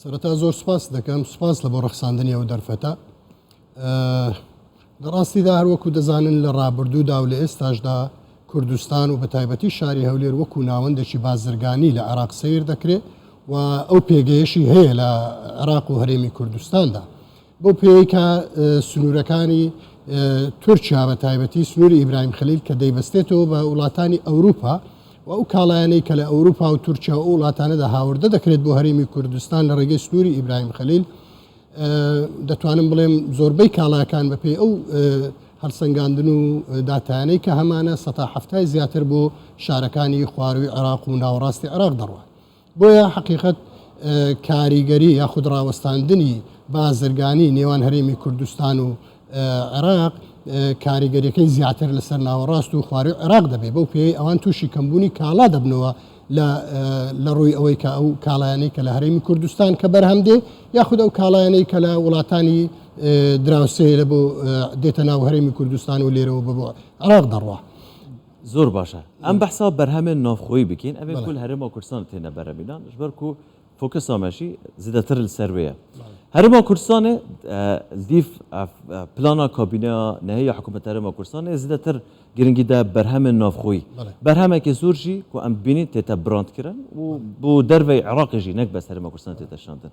سەرەتا زۆر سپاست دەکەم سپاس لە بۆ ڕەخساندنی ئەو دەرفەتە لە ڕاستیدا هەروەکو دەزانن لە ڕابردوودا و لە ئێستاشدا کوردستان و بە تایبەتی شاری هەولێر وەکو ناوەندێکی بازرگانی لە عراق سیر دەکرێت و ئەو پێگەیەشی هەیە لە عراق و هەرێمی کوردستاندا بەو پێیەی کە سنوورەکانی تورکیا بە تایبەتی سنووری ئیبراهیم خەلیل کە دەیبەستێتەوە بە وڵاتانی ئەوروپا و ئەو کاڵایانەی کە لە ئەوروپا و تورکیا و وڵاتانەدا هاوردە دەکرێت بۆ هەرێمی کوردستان لە ڕێگەی سنووری ئیبراهیم خەلیل دەتوانم بڵێم زۆربەی کاڵاکان بەپێی ئەو هەڵسەنگاندن و داتانەی کە هەمانە سەتا هەفتای زیاتر بۆ شارەکانی خواروی عێراق و ناوەڕاستی عێراق دەڕوات بۆیە حەقیقەت کاریگەری یاخود ڕاوەستاندنی بازرگانی نێوان هەرێمی کوردستان و عێراق کاریگەریەکەی زیاتر لەسەر ناوەڕاست و خوارەوەی عێراق دەبێت بەو پێی ئەوان تووشی کەمبوونی کاڵا دەبنەوە لە ڕووی ئەوەی کە ئەو کاڵایانەی کە لە هەرێمی کوردستان کە بەرهەم دێ یاخود ئەو کاڵایانەی کە لە وڵاتانی دراوسێ لە بۆ دێتە ناو هەرێمی کوردستان و لێرەوە بە بۆ عراق دەڕوە زۆر باشە ئەم بەحسا بەرهەمێن ناوخۆی بکەین ئەێ کل هەرێما کوردستان تێنە بەرەمیدان ژبەر و فۆکە سامەشی زیدەتر سەروەیە هەرێما کوردستانێ دیف پلانا کابینە نەهەیە حکوومەت هەرێما کوردستانێ زیدەتر گرنگیدا بەرهەمێن ناوخۆی بەرهەمێکی زۆرژی و ئەم بینین تێتە براندکردن و بۆ دەرەوەی عراقیژی نەک بە سەرمە کوردستان تێتەشاندن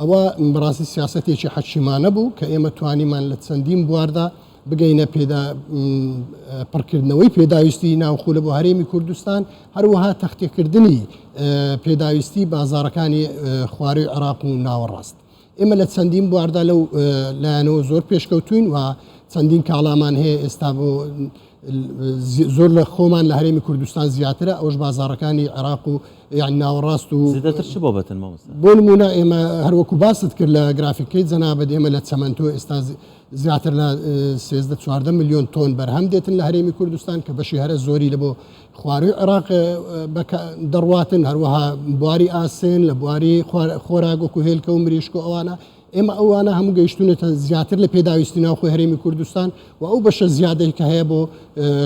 ئەوە بەڕاستی سیاسەتێکی حەکیمانە بوو کە ئێمە توانیمان لە چەندین بواردا بگەینە پێدا پڕکردنەوەی پێداویستی ناوخولە بۆ هەرێمی کوردستان هەروەها تەختێکردنی پێداویستی بازارەکانی خوارەوی عراق و ناوەڕاست ئێمە لە چەندین بواردا لەو لایەنەوە زۆر پێشکەوتوین و چەندین کاڵامان هەیە ئێستا بۆ زۆر لە خۆمان لە هەرێمی کوردستان زیاترە ئەوش بازارەکانی عێراق و یان ناوەڕاست و زیاتر چ بابەتن مامۆستا بۆ نمونە ئێمە هەروەکو باست کرد لە گرافیکەی جەنابەت ئێمە لە چەمەنتۆ ئێستا زیاتر لە 13 چواردە میلیۆن تۆن بەرهەم دێتن لە هەرێمی کوردستان کە بەشی هەرە زۆری لە بۆ خواروی عێراق دەڕواتن هەروەها بواری ئاسن لە بواری خۆراگۆکو هێلکە و مریشک و ئەوانە ئێمە ئەوانە هەموو گەیشتوونەتە زیاتر لە پێداویستی ناوخۆی هەرێمی کوردستان و ئەو بەشە زیادەی کە هەیە بۆ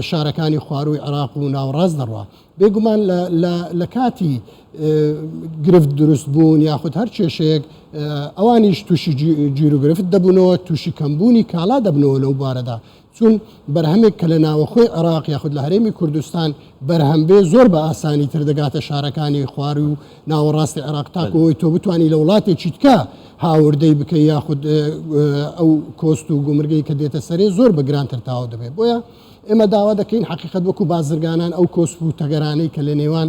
شارەکانی خوارووی عێراق و ناوەڕاست دەڕوا بێگومان لە کاتی گرفت دروست بوون یاخود هەر کێشەیەک ئەوانیش تووشی جیرو گرفت دەبوونەوە تووشی کەمبوونی کالا دەبنەوە لەو بارەدا چون بەرهەمێک کە لە ناوەخۆی عێراق یاخود لە هەرێمی کوردستان بەرهەم بێ زۆر بە ئاسانی تر دەگاتە شارەکانی خواروی و ناوەڕاستی عێراق تاکو ئەوەی تۆ بتانی لە وڵاتێکی تکە هاوردەی بکەی یاخود ئەو کۆست و گومرگەی کە دێتە سەرێ زۆر بە گرانتر تاو دەبێت بۆیە ئێمە داوا دەکەین حقیقت وەکو بازرگانان ئەو کۆسپ و تەگەرانەی کە لە نێوان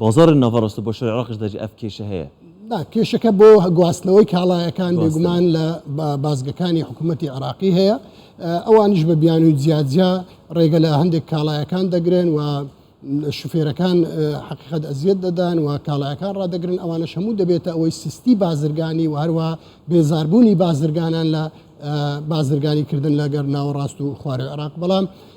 بازاڕی ناڤەڕاست و باشوری عێڕاقیش دەرجی ئەف کێشە هەیە. نا، کێشەکە بۆ گواستنەوەی کاڵایەکان بێگومان لە بازگەکانی حکوومەتی عێڕاقی هەیە. ئەوانیش بە بیانووی جیاجیا ڕێگە لە هەندێک کاڵایەکان دەگرن و شوفێرەکان حەقیقەت ئەزیەت دەدان و کاڵایەکان ڕادەگرن، ئەوانەش هەموو دەبێتە ئەوەی سستی بازرگانی و هەروەها بێزاربوونی بازرگانان لە بازرگانیکردن لەگەر ناوەڕاست و خواری عێڕاق. بەڵام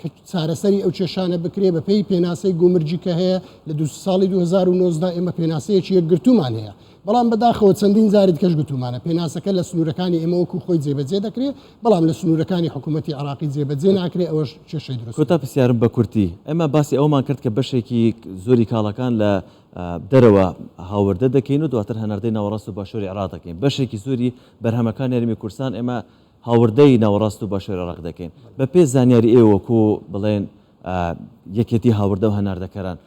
کە چارەسەری ئەو کێشانە بکرێت بەپێی پێناسەی گومرگی کە هەیە لە دوو ساڵی 2019 ئێمە پێناسەیەکی یەکگرتوومان هەیە بەڵام بەداخەوە چەندین جاریت کەش گوتومانە پێناسەکە لە سنوورەکانی ئێمە وەکو خۆی جێبەجێ دەکرێت بەڵام لە سنوورەکانی حکوومەتتی عراقی جێبەجێ ناکرێت ئەوەش کێشەی دروست کۆتا پرسیارم بە کورتی ئێمە باسی ئەومان کرد کە بەشێکی زۆری کاڵەکان لە دەرەوە هاوردە دەکەین و دواتر هەناردەی ناوەڕاست و باشووری عراق دەکەین بەشێکی زۆری بەرهەمەکان یاریمی کوردستان ئێمە هاوردەی ناوەڕاست و باشووری عێراق دەکەین. بە پێی زانیاری ئێوە وەکو بڵێن یەکێتی هاوردە و هەناردەکەران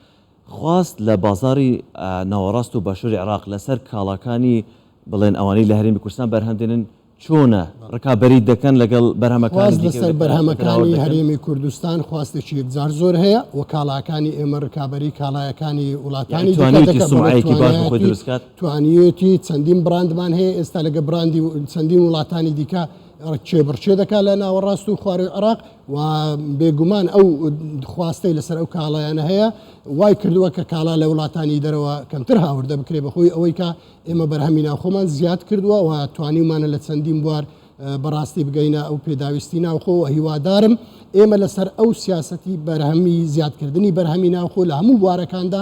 خواست لە بازاڕی ناوەڕاست و باشووری عێراق لە سەر کاڵاکانی بڵێن ئەوانەی لە هەرێمی کوردستان بەرهەم دێنن چۆنە؟ ڕکابەریی دەکەن لەگەڵ بەرهەمەکانی دیکە و دەتوانن بەرهەمەکانی هەناوەر دەکەن؟ خواست لە سەر بەرهەمەکانی هەرێمی کوردستان خواستێکی یەکجار زۆر هەیە و کاڵاکانی ئێمە ڕکابەریی کاڵایەکانی یانی وڵاتانی دیکە توانیویتی دەکەن بەڵێ سومعەیەکی باش بۆ خۆی توانایەتی دروست کات؟ توانیوێتی چەندین بڕاندمان هەیە ئێستا لەگە بڕاندی چەندین وڵاتانی دیکە کێبڕچێ دەکات لە ناوەڕاست و خواروی عراق و بێگومان ئەو خواستەی لەسەر ئەو کاڵایانە هەیە وای کردووە کە کاڵا لە وڵاتانی دەرەوە کەمتر هاوردە بکرێ بەخۆی ئەوەی کە ئێمە بەرهەمی ناوخۆمان زیاد کردووە و توانیمانە لە چەندین بوار بەڕاستی بگەینە ئەو پێداویستی ناوخۆ و هیوادارم ئێمە لەسەر ئەو سیاستی بەرهەمی زیادکردنی بەرهەمی ناوخۆ لە هەموو بوارەکاندا